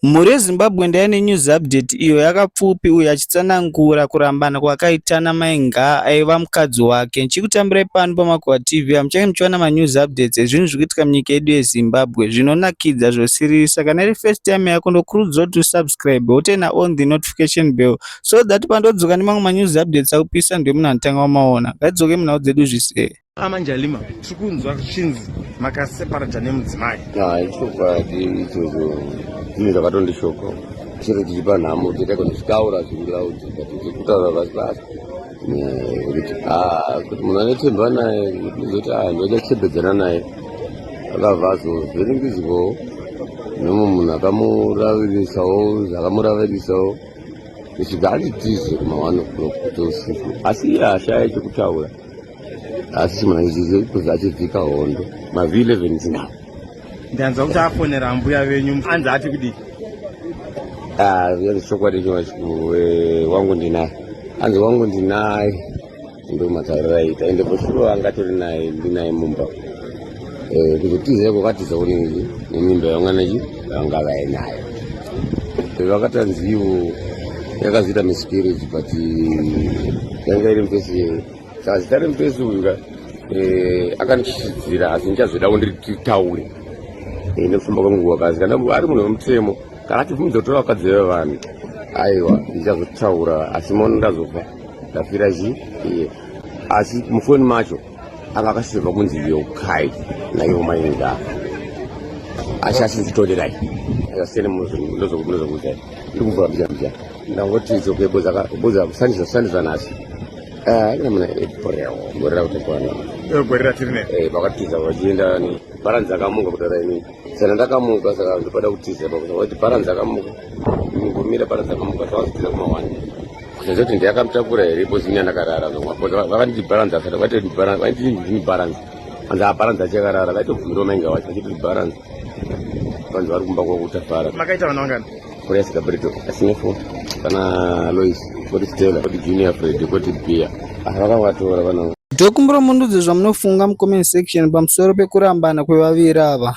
Mhuri yeZimbabwe ndaiya nenews update iyo yakapfupi uyu achitsanangura kurambana kwakaita naMai Ngaa aiva mukadzi wake. Ndichikutambirai pano paMakuva TV apo muchange muchiwana manews updates ezvinhu zviri kuitika munyika yedu yeZimbabwe zvinonakidza zvosiririsa. Kana iri first time yako ndokurudzira kuti usubscribe wotena on the notification bell so that pandodzoka nemamwe manews updates akupisa ndiwe munhu anotanga wamaona. Ngatidzoke munhau dzedu zvise. amanjalima tiri kunzwa zvichinzi makaseparata nemudzimai hai chokwadi ichocho zvinhu zvakatondishoko chero tichipa nhamo titaiko ndichitaura zvingilaudzi but ndikutaura vasi vasi kuti ah, kuti munhu anotemba naye zoti ah, ndodachebedzana naye akabva azovhiringizwawo nemwe munhu akamuraviririsawo zvakamuraviririsawo zvichibva anditize kuma one o'clock kuti usiku asi iye ashaya chekutaura asi chimanaizizi kuzi achivhika hondo mavi 11 zinawo ndanzwa kuti afonera mbuya venyu anzi ati kudii ah, yanzi chokwadi chowae wangu ndinaye anzi wangu ndinaye ndomataurira ita ende posuro angatori naye ndinaye mumba Eh, kuzotizira kwakatiza kunenge nemimba yamwana chi vanga vainayo eh, vakatanziwo yakazoita miscarriage but yanga iri mupesi yeye saka zita remupesi uyu ka eh, akandichichidzira asi ndichazodawo ndiritaure nekufamba kwenguva kasi kana ari munhu wemutemo kana atibvumidza kutora vakadzi vevanhu aiwa ndichazotaura asi mono ndazobva ndafira chi asi mufoni macho ava akasizirwa kunzi yokai naivo mainga asi asizitonderai asiyane munozokuzai ndikuvura mbija mbija ndangoti dzokeboza kusandisa kusandisa nhasi namuna eh, epreo eh, gore rakutekwana eh, gore ratirine pakatiza vachienda bharanzi akamuka kudara ini sana ndakamuka saka ndopada kutiza pakuti bharanzi akamuka ngomira bharanzi akamuka zvavazitiza kumawani kusenza kuti ndiyakamutakura here because ini andakarara vakanditi balance asati vaitoti balance vaiti ndini balance anzi abalance achakarara vaitobvumiriwa mainga wacho vachitoti balance vanzi vari kumba kwakutafara makaita vana vangani kuresa gabrito asine fo kana lois koti stela koti junior fred koti bia ah, vakavatora vana ndokumbira mundudzi zvamunofunga mucomment section pamusoro pekurambana kwevaviri ava